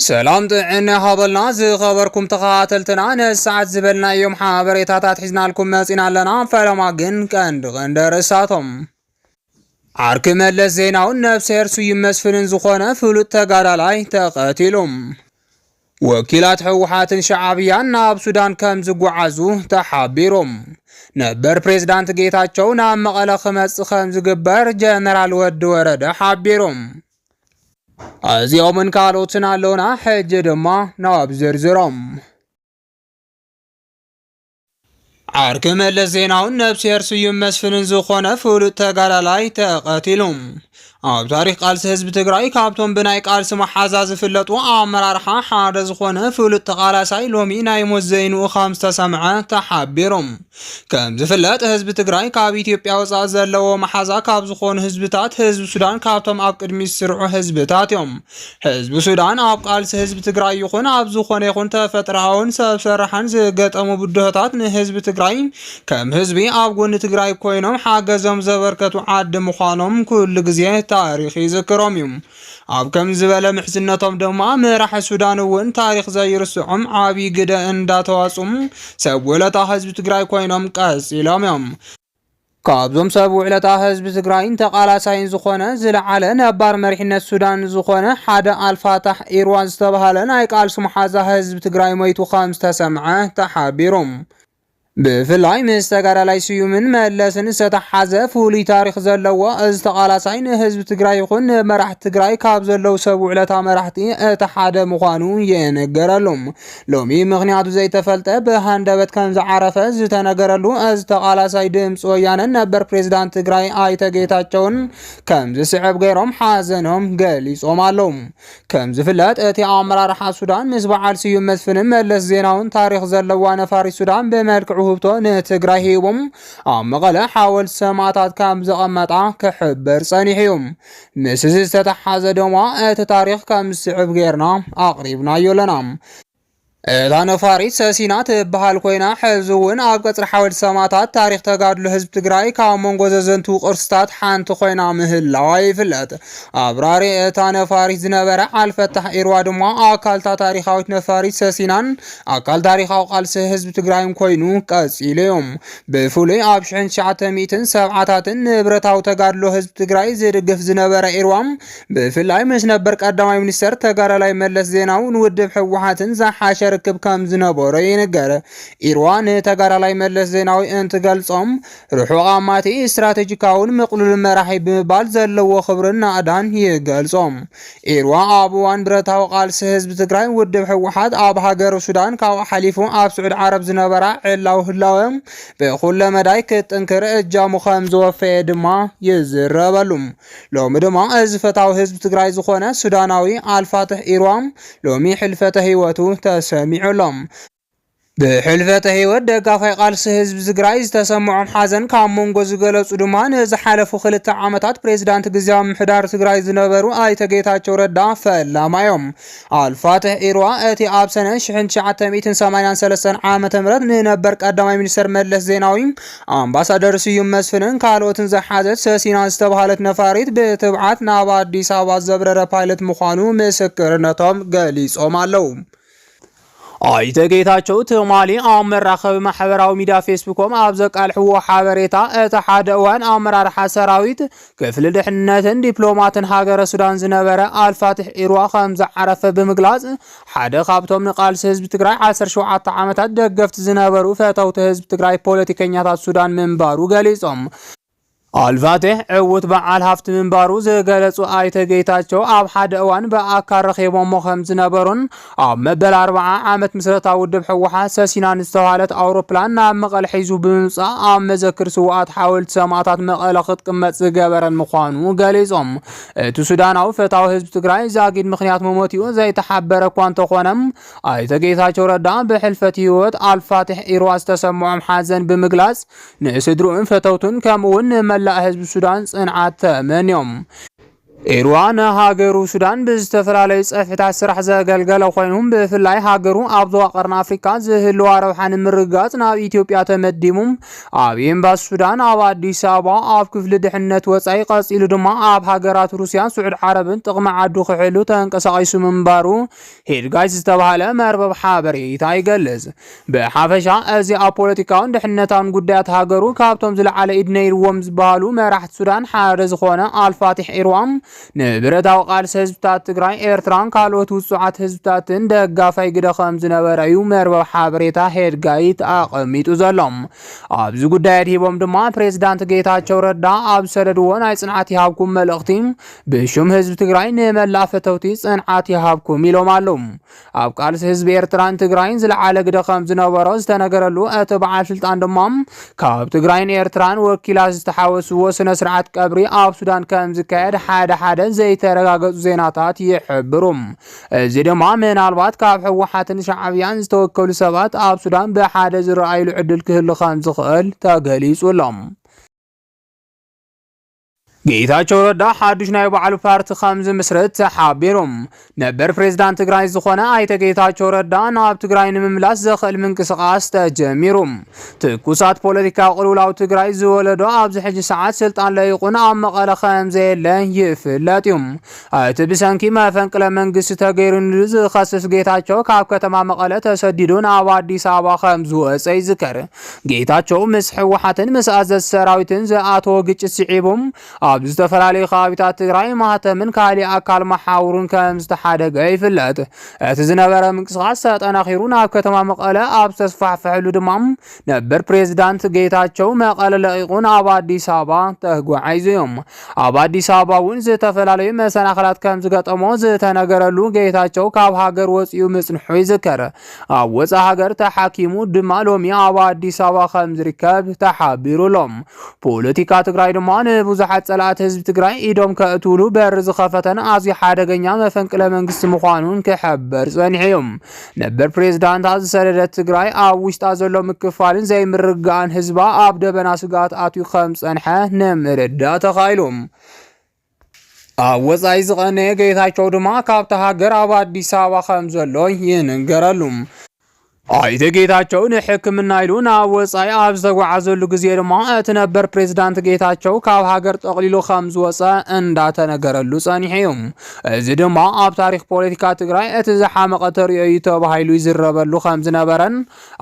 ሰላም ጥዕና ይሃበልና ዝኸበርኩም ተኸታተልትና ነዚ ሰዓት ዝበልናዮም ሓበሬታታት ሒዝናልኩም መጺና ኣለና ፈለማ ግን ቀንዲ ቀንዲ ኣርእስታቶም ዓርኪ መለስ ዜናውን ነብስሄር ስዩም መስፍንን ዝኾነ ፍሉጥ ተጋዳላይ ተቐቲሉ ወኪላት ህወሓትን ሸዓብያን ናብ ሱዳን ከም ዝጓዓዙ ተሓቢሩ። ነበር ፕሬዝዳንት ጌታቸው ናብ መቐለ ክመጽእ ከም ዝግበር ጀነራል ወዲ ወረደ ሓቢሩ። እዚኦምን ካልኦትን ኣለውና ሕጂ ድማ ናብ ዝርዝሮም ዓርኪ መለስ ዜናውን ነብስሄር ስዩም መስፍንን ዝኾነ ፍሉጥ ተጋዳላይ ተቐቲሉ ኣብ ታሪክ ቃልሲ ህዝቢ ትግራይ ካብቶም ብናይ ቃልሲ መሓዛ ዝፍለጡ ኣመራርሓ ሓደ ዝኾነ ፍሉጥ ተቓላሳይ ሎሚ ናይ ሞት ዘይንኡ ከም ዝተሰምዐ ተሓቢሩ ከም ዝፍለጥ ህዝቢ ትግራይ ካብ ኢትዮጵያ ወፃኢ ዘለዎ መሓዛ ካብ ዝኾኑ ህዝብታት ህዝቢ ሱዳን ካብቶም ኣብ ቅድሚ ዝስርዑ ህዝብታት እዮም። ህዝቢ ሱዳን ኣብ ቃልሲ ህዝቢ ትግራይ ይኹን ኣብ ዝኾነ ይኹን ተፈጥሮኣውን ሰብ ሰራሕን ዝገጠሙ ብድሆታት ንህዝቢ ትግራይ ከም ህዝቢ ኣብ ጎኒ ትግራይ ኮይኖም ሓገዞም ዘበርከቱ ዓዲ ምዃኖም ኩሉ ግዜ ታሪክ ይዝክሮም እዩ። ኣብ ከምዚ ዝበለ ምሕዝነቶም ድማ መራሒ ሱዳን እውን ታሪኽ ዘይርስዖም ዓብዪ ግደ እንዳተዋፅኡ ሰብ ውለታ ህዝቢ ትግራይ ኮይኖም ቀፂሎም እዮም። ካብዞም ሰብ ውዕለታ ህዝቢ ትግራይን ተቓላሳይን ዝኾነ ዝለዓለ ነባር መሪሕነት ሱዳን ዝኾነ ሓደ ኣልፋታሕ ኢርዋ ዝተብሃለ ናይ ቃልሲ መሓዛ ህዝቢ ትግራይ ሞይቱ ከምዝተሰምዐ ተሓቢሩ። ብፍላይ ምስ ተጋዳላይ ስዩምን መለስን ዝተተሓሓዘ ፍሉይ ታሪኽ ዘለዎ እዚ ተቓላሳይ ንህዝቢ ትግራይ ይኹን ንመራሕቲ ትግራይ ካብ ዘለዉ ሰብ ውዕለታ መራሕቲ እቲ ሓደ ምዃኑ የነገረሉ ሎሚ ምክንያቱ ዘይተፈልጠ ብሃንደበት ከም ዝዓረፈ ዝተነገረሉ እዚ ተቓላሳይ ድምፂ ወያነን ነበር ፕሬዚዳንት ትግራይ ኣይተ ጌታቸውን ከም ዝስዕብ ገይሮም ሓዘኖም ገሊፆም ኣለዉ። ከም ዝፍለጥ እቲ ኣመራርሓ ሱዳን ምስ በዓል ስዩም መስፍንን መለስ ዜናውን ታሪኽ ዘለዋ ነፋሪት ሱዳን ብመልክዕ ውህብቶ ንትግራይ ሂቦም ኣብ መቐለ ሓወልቲ ሰማእታት ከም ዘቐመጣ ክሕበር ጸኒሑ እዩ። ምስ እዚ ዝተተሓሓዘ ድማ እቲ ታሪኽ ከም ዝስዕብ ጌርና ኣቕሪብናዮ ኣለና። እታ ነፋሪት ሰሲና ትበሃል ኮይና ሕዚ እውን ኣብ ቀፅሪ ሓወልቲ ሰማእታት ታሪክ ተጋድሎ ህዝቢ ትግራይ ካብ መንጎ ዘዘንትዉ ቅርስታት ሓንቲ ኮይና ምህላዋ ይፍለጥ። ኣብራሪ እታ ነፋሪት ዝነበረ ዓልፈታሕ ኢርዋ ድማ ኣካልታ ታሪካዊት ነፋሪት ሰሲናን ኣካል ታሪካዊ ቃልሲ ህዝቢ ትግራይን ኮይኑ ቀፂሉ እዩ። ብፍሉይ ኣብ ሽሕን ትሽዓተ ሚእትን ሰብዓታትን ንብረታዊ ተጋድሎ ህዝቢ ትግራይ ዝድግፍ ዝነበረ ኢርዋም ብፍላይ ምስ ነበር ቀዳማይ ሚኒስተር ተጋዳላይ መለስ ዜናውን ውድብ ህወሓትን ዝሓሸ ርክብ ከም ዝነበሮ ይንገር። ኢርዋ ንተጋዳላይ መለስ ዜናዊ እንትገልጾም ርሑቕ ኣማቲ ስትራቴጂካውን ምቕሉልን መራሒ ብምባል ዘለዎ ክብርን ናእዳን ይገልጾም። ኢርዋ ኣብ እዋን ብረታዊ ቃልሲ ህዝቢ ትግራይ ውድብ ህወሓት ኣብ ሃገር ሱዳን ካብኡ ሓሊፉ ኣብ ስዑድ ዓረብ ዝነበራ ዕላዊ ህላወ ብኩለ መዳይ ክትጥንክር እጃሙ ከም ዘወፈየ ድማ ይዝረበሉ። ሎሚ ድማ እዚ ፈታዊ ህዝቢ ትግራይ ዝኾነ ሱዳናዊ ኣልፋትሕ ኢርዋም ሎሚ ሕልፈተ ህይወቱ ተሰሚዑ ኣሎ። ብሕልፈተ ህይወት ደጋፋይ ቃልሲ ህዝቢ ትግራይ ዝተሰመዖም ሓዘን ካብ መንጎ ዝገለፁ ድማ ንዝሓለፉ ክልተ ዓመታት ፕሬዚዳንት ግዝያዊ ምምሕዳር ትግራይ ዝነበሩ ኣይተ ጌታቸው ረዳ ፈላማይ እዮም። ኣልፋትሕ ኢርዋ እቲ ኣብ ሰነ 1983 ዓ ም ንነበር ቀዳማይ ሚኒስተር መለስ ዜናዊ ኣምባሳደር ስዩም መስፍንን ካልኦትን ዝሓዘት ሰሲና ዝተባሃለት ነፋሪት ብትብዓት ናብ ኣዲስ ኣበባ ዘብረረ ፓይለት ምዃኑ ምስክርነቶም ገሊጾም ኣለዉ። ኣይተ ጌታቸው ትማሊ ኣብ መራኸቢ ማሕበራዊ ሚዲያ ፌስቡኮም ኣብ ዘቃልሕዎ ሓበሬታ እቲ ሓደ እዋን ኣመራርሓ ሰራዊት ክፍሊ ድሕንነትን ዲፕሎማትን ሃገረ ሱዳን ዝነበረ ኣልፋትሕ ኢርዋ ከም ዝዓረፈ ብምግላፅ ሓደ ካብቶም ንቃልሲ ህዝቢ ትግራይ 17 ዓመታት ደገፍቲ ዝነበሩ ፈተውቲ ህዝቢ ትግራይ ፖለቲከኛታት ሱዳን ምንባሩ ገሊፆም። ኣልፋቴሕ ዕዉት በዓል ሃፍቲ ምንባሩ ዝገለፁ ኣይተ ጌታቸው ኣብ ሓደ እዋን ብኣካል ረኺቦሞ ከም ዝነበሩን ኣብ መበል ኣርብዓ ዓመት ምስረታ ውድብ ህወሓት ሰሲናን ዝተብሃለት ኣውሮፕላን ናብ መቐለ ሒዙ ብምምፃእ ኣብ መዘክር ስውኣት ሓወልቲ ሰማእታት መቐለ ክትቅመጥ ዝገበረን ምዃኑ ገሊፆም። እቲ ሱዳናዊ ፈታዊ ህዝቢ ትግራይ ዛጊድ ምክንያት መሞቲኡ ዘይተሓበረ እኳ እንተኾነ ኣይተ ጌታቸው ረዳ ብሕልፈት ህይወት ኣልፋቴሕ ኢርዋ ዝተሰምዖም ሓዘን ብምግላፅ ንስድርኡን ፈተውቱን ከምኡውን ንመላእ ህዝቢ ሱዳን ጽንዓት ተመንዮም። ኢርዋ ንሃገሩ ሱዳን ብዝተፈላለዩ ጸፍሕታት ስራሕ ዘገልገለ ኮይኑ ብፍላይ ሃገሩ ኣብ ዞባ ቀርኒ ኣፍሪካ ዝህልዋ ረብሓ ንምርግጋጽ ናብ ኢትዮጵያ ተመዲቡ ኣብ ኤምባሲ ሱዳን ኣብ ኣዲስ ኣበባ ኣብ ክፍሊ ድሕነት ወጻኢ ቀጺሉ ድማ ኣብ ሃገራት ሩስያን ስዑድ ዓረብን ጥቕሚ ዓዱ ክሕሉ ተንቀሳቒሱ ምንባሩ ሄድጋይስ ዝተባህለ መርበብ ሓበሬታ ይገልጽ። ብሓፈሻ እዚ ኣብ ፖለቲካውን ድሕነታውን ጉዳያት ሃገሩ ካብቶም ዝለዓለ ኢድ ነይርዎም ዝበሃሉ መራሕቲ ሱዳን ሓደ ዝኾነ ኣልፋቲሕ ኢርዋም ንብረታዊ ቃልሲ ህዝብታት ትግራይ፣ ኤርትራን ካልኦት ውጹዓት ህዝብታትን ደጋፋይ ግደ ከም ዝነበረ እዩ መርበብ ሓበሬታ ሄድጋይት ኣቐሚጡ ዘሎ። ኣብዚ ጉዳይ ኣድሂቦም ድማ ፕሬዝዳንት ጌታቸው ረዳ ኣብ ዝሰደድዎ ናይ ጽንዓት ይሃብኩም መልእኽቲ ብሹም ህዝቢ ትግራይ ንመላእ ፈተውቲ ጽንዓት ይሃብኩም ኢሎም ኣለዉ። ኣብ ቃልሲ ህዝቢ ኤርትራን ትግራይን ዝለዓለ ግደ ከም ዝነበሮ ዝተነገረሉ እቲ በዓል ስልጣን ድማ ካብ ትግራይን ኤርትራን ወኪላት ዝተሓወስዎ ስነ ስርዓት ቀብሪ ኣብ ሱዳን ከም ዝካየድ ሓደ ሓደ ዘይተረጋገጹ ዜናታት ይሕብሩ። እዚ ድማ ምናልባት ካብ ህወሓትን ሻዕብያን ዝተወከሉ ሰባት ኣብ ሱዳን ብሓደ ዝረኣይሉ ዕድል ክህሉ ከም ዝኽእል ተገሊጹ ኣሎ። ጌታቸው ረዳ ሓዱሽ ናይ ባዕሉ ፓርቲ ከም ዝምስርት ተሓቢሩ። ነበር ፕሬዝዳንት ትግራይ ዝኾነ ኣይተ ጌታቸው ረዳ ናብ ትግራይ ንምምላስ ዘኽእል ምንቅስቓስ ተጀሚሩ። ትኩሳት ፖለቲካ ቅልውላው ትግራይ ዝወለዶ ኣብዚ ሕጂ ሰዓት ስልጣን ለይቑን ኣብ መቐለ ከም ዘየለ ይፍለጥ እዩ። እቲ ብሰንኪ መፈንቅለ መንግስቲ ተገይሩንሉ ዝኸስስ ጌታቸው ካብ ከተማ መቐለ ተሰዲዱ ናብ ኣዲስ ኣበባ ከም ዝወፀ ይዝከር። ጌታቸው ምስ ህወሓትን ምስ ኣዘዝ ሰራዊትን ዝኣተዎ ግጭት ስዒቡ ኣብ ዝተፈላለዩ ከባቢታት ትግራይ ማህተምን ካሊእ ኣካል መሓውሩን ከም ዝተሓደገ ይፍለጥ። እቲ ዝነበረ ምንቅስቓስ ተጠናኺሩ ናብ ከተማ መቐለ ኣብ ዝተስፋሕፈሐሉ ድማ ነበር ፕሬዝዳንት ጌታቸው መቐለ ለቒቑ ናብ ኣዲስ ኣበባ ተጓዒዙ እዮም። ኣብ ኣዲስ ኣበባ እውን ዝተፈላለዩ መሰናኽላት ከም ዝገጠሞ ዝተነገረሉ ጌታቸው ካብ ሃገር ወፂኡ ምፅንሑ ይዝከር። ኣብ ወፃእ ሃገር ተሓኪሙ ድማ ሎሚ ኣብ ኣዲስ ኣበባ ከም ዝርከብ ተሓቢሩ ኣሎ። ፖለቲካ ትግራይ ድማ ንብዙሓት ፀላእቲ ህዝቢ ትግራይ ኢዶም ከእትውሉ በር ዝኸፈተን ኣዝዩ ሓደገኛ መፈንቅለ መንግስቲ ምዃኑን ክሕበር ፀኒሑ እዩ። ነበር ፕሬዝዳንታ ዝሰደደት ትግራይ ኣብ ውሽጣ ዘሎ ምክፋልን ዘይምርግጋእን ህዝባ ኣብ ደበና ስግኣት ኣትዩ ከም ዝጸንሐ ንምርዳእ ተኻኢሉ። ኣብ ወፃኢ ዝቐነየ ጌታቸው ድማ ካብታ ሃገር ኣብ ኣዲስ ኣበባ ከም ዘሎ ይንገረሉ። ኣይተ ጌታቸው ንሕክምና ኢሉ ናብ ወፃኢ ኣብ ዝተጓዓዘሉ ግዜ ድማ እቲ ነበር ፕሬዚዳንት ጌታቸው ካብ ሃገር ጠቕሊሉ ከም ዝወፀ እንዳተነገረሉ ፀኒሑ እዩ። እዚ ድማ ኣብ ታሪኽ ፖለቲካ ትግራይ እቲ ዝሓመቐ ተርእዮ እዩ ተባሂሉ ይዝረበሉ ከምዝነበረን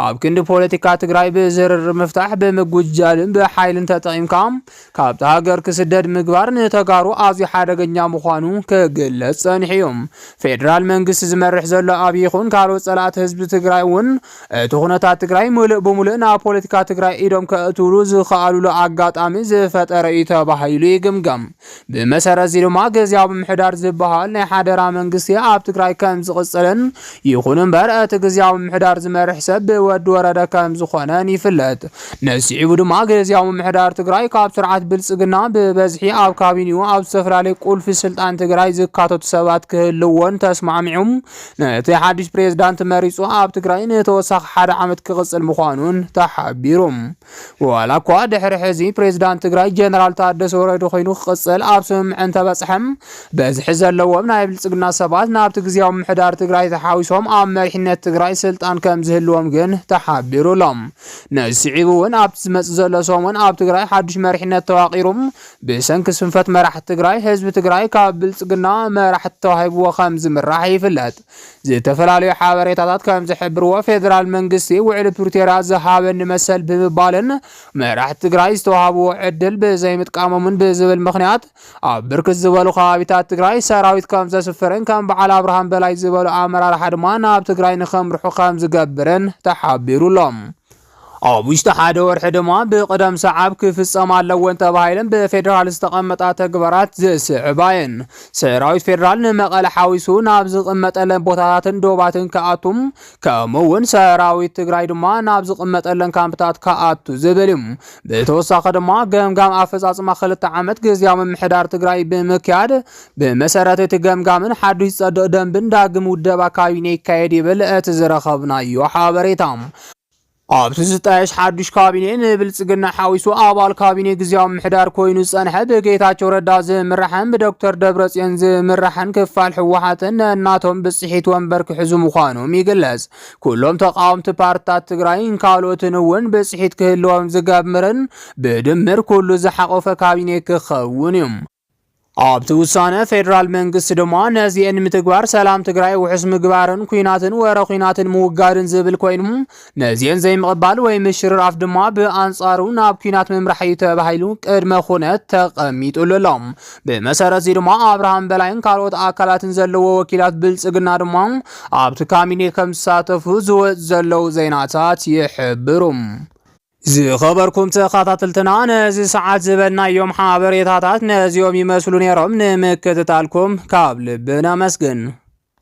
ኣብ ክንዲ ፖለቲካ ትግራይ ብዝርርብ ምፍታሕ ብምጉጃልን ብሓይልን ተጠቒምካ ካብቲ ሃገር ክስደድ ምግባር ንተጋሩ ኣዝዩ ሓደገኛ ምዃኑ ክግለጽ ጸኒሑ እዩ። ፌደራል መንግስቲ ዝመርሕ ዘሎ ኣብይ ይኹን ካልኦት ጸላእቲ ህዝቢ ትግራይ እውን እቲ ኩነታት ትግራይ ምሉእ ብምሉእ ናብ ፖለቲካ ትግራይ ኢዶም ከእትውሉ ዝኸኣሉሉ ኣጋጣሚ ዝፈጠረ እዩ ተባሂሉ ይግምገም። ብመሰረት'ዚ ድማ ግዝያዊ ምምሕዳር ዝበሃል ናይ ሓደራ መንግስቲ ኣብ ትግራይ ከምዝቕጽልን ይኹን እምበር እቲ ግዝያዊ ምምሕዳር ዝመርሕ ሰብ ብወዲ ወረደ ከምዝኾነን ይፍለጥ። ነዚ ስዒቡ ድማ ግዝያዊ ምምሕዳር ትግራይ ካብ ስርዓት ብልጽግና ብበዝሒ ኣብ ካቢኒኡ ኣብ ዝተፈላለዩ ቁልፊ ስልጣን ትግራይ ዝካተቱ ሰባት ክህልዎን ተስማዕሚዑ ነቲ ሓድሽ ፕሬዝዳንት መሪጹ ኣብ ትግራይ ንተወሳኺ ሓደ ዓመት ክቕጽል ምዃኑን ተሓቢሩ። ዋላ እኳ ድሕሪ ሕዚ ፕሬዚዳንት ትግራይ ጀነራል ታደሰ ወረደ ኮይኑ ክቕፅል ኣብ ስምምዕ እንተበፅሐ በዝሒ ዘለዎም ናይ ብልፅግና ሰባት ናብቲ ግዜያዊ ምምሕዳር ትግራይ ተሓዊሶም ኣብ መሪሕነት ትግራይ ስልጣን ከም ዝህልዎም ግን ተሓቢሩ ኣሎ። ነዚ ስዒቡ እውን ኣብቲ ዝመፅእ ዘሎ ሰሙን ኣብ ትግራይ ሓዱሽ መሪሕነት ተዋቒሩ ብሰንኪ ስንፈት መራሕቲ ትግራይ ህዝቢ ትግራይ ካብ ብልፅግና መራሕቲ ተዋሂብዎ ከም ዝምራሕ ይፍለጥ። ዝተፈላለዩ ሓበሬታታት ከም ዝሕብርዎ ፌዴራል መንግስቲ ውዕሊ ፕሪቶርያ ዝሃበኒ መሰል ብምባልን መራሕቲ ትግራይ ዝተዋሃብዎ ዕድል ብዘይምጥቃሞምን ብዝብል ምክንያት ኣብ ብርክት ዝበሉ ከባቢታት ትግራይ ሰራዊት ከም ዘስፍርን ከም በዓል ኣብርሃም በላይ ዝበሉ ኣመራርሓ ድማ ናብ ትግራይ ንከምርሑ ከም ዝገብርን ተሓቢሩሎም ኣብ ውሽጢ ሓደ ወርሒ ድማ ብቕደም ሰዓብ ክፍፀማ ኣለወን ተባሂለን ብፌዴራል ዝተቐመጣ ተግባራት ዝስዕባ እየን። ሰራዊት ፌዴራል ንመቐለ ሓዊሱ ናብ ዝቕመጠለን ቦታታትን ዶባትን ክኣቱ ከምኡ እውን ሰራዊት ትግራይ ድማ ናብ ዝቕመጠለን ካምፕታት ክኣቱ ዝብል እዩ። ብተወሳኺ ድማ ገምጋም ኣፈፃፅማ ክልተ ዓመት ግዝያዊ ምምሕዳር ትግራይ ብምክያድ ብመሰረት እቲ ገምጋምን ሓዱሽ ዝፀድቕ ደንብን ዳግም ውደባ ካቢኔ ይካየድ ይብል እቲ ዝረኸብናዮ ሓበሬታ። ኣብቲ ዝጣየሽ ሓዱሽ ካቢኔ ንብልፅግና ሓዊሱ ኣባል ካቢኔ ግዜያዊ ምሕዳር ኮይኑ ዝፀንሐ ብጌታቸው ረዳ ዝምራሕን ብዶክተር ደብረፅዮን ዝምራሕን ክፋል ህወሓትን ነናቶም ብፅሒት ወንበር ክሕዙ ምዃኖም ይግለፅ። ኩሎም ተቃወምቲ ፓርትታት ትግራይን ካልኦትን እውን ብፅሒት ክህልዎም ዝገብርን ብድምር ኩሉ ዝሓቆፈ ካቢኔ ክኸውን እዩ። ኣብቲ ውሳነ ፌዴራል መንግስቲ ድማ ነዚኤን ምትግባር ሰላም ትግራይ ውሑስ ምግባርን ኩናትን ወረ ኩናትን ምውጋድን ዝብል ኮይኑ ነዚኤን ዘይምቕባል ወይ ምሽርራፍ ድማ ብኣንጻሩ ናብ ኩናት ምምራሕ እዩ ተባሂሉ ቅድመ ኩነት ተቐሚጡሉ ኣሎ። ብመሰረት እዚ ድማ ኣብርሃም በላይን ካልኦት ኣካላትን ዘለዎ ወኪላት ብልጽግና ድማ ኣብቲ ካቢኔ ከም ዝሳተፉ ዝወጽ ዘለዉ ዜናታት ይሕብሩ። ዝኸበርኩም ተኸታተልትና ነዚ ሰዓት ዝበልናዮም ሓበሬታታት ነዚኦም ይመስሉ ነይሮም። ንምክትታልኩም ካብ ልቢ ነመስግን።